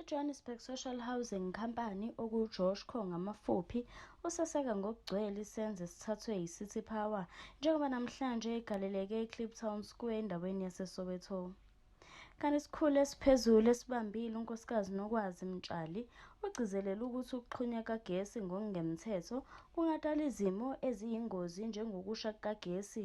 I-Johannesburg Social Housing Company, okuJoshco ngamafuphi, useseka ngokugcwele isenzo esithathwe yiCity Power njengoba namhlanje igaleleke eCliptown Square endaweni yaseSoweto. Kanti isikhulu esiphezulu esibambile uNkosikazi Nokwazi Mtshali ugcizelele ukuthi ukuxhunywa kagesi ngokungemthetho kungadala izimo eziyingozi njengokusha kukagesi,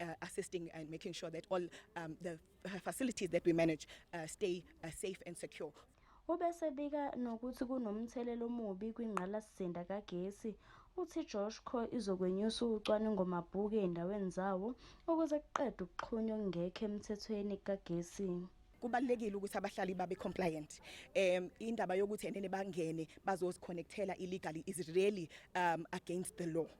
uh, assisting and making sure that all um, the facilities that we manage uh, stay uh, safe and secure. Ubesebika nokuthi kunomthelela omubi kwingqalasizinda kagesi. Uthi Joshco izokwenyusa ucwaningo mabhuku ezindaweni zawo ukuze kuqedwe ukuxhunywa okungekho emthethweni kukagesi. kubalekile ukuthi abahlali babe compliant um indaba yokuthi enene bangene bazoziconnectela illegally is really um against the law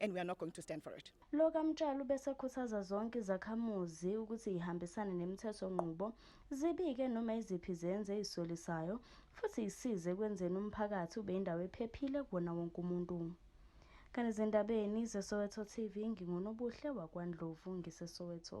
and we are not going to stand for it. Lo kaMtshali ubesekhuthaza zonke izakhamuzi ukuthi ihambisane nemithetho nqubo, zibike noma iziphi izenzo ezisolisayo futhi isize ekwenzeni umphakathi ube indawo ephephile kuwona wonke umuntu. Kanti ezindabeni zeSoweto TV nginguNobuhle wakwaNdlovu ngiseSoweto.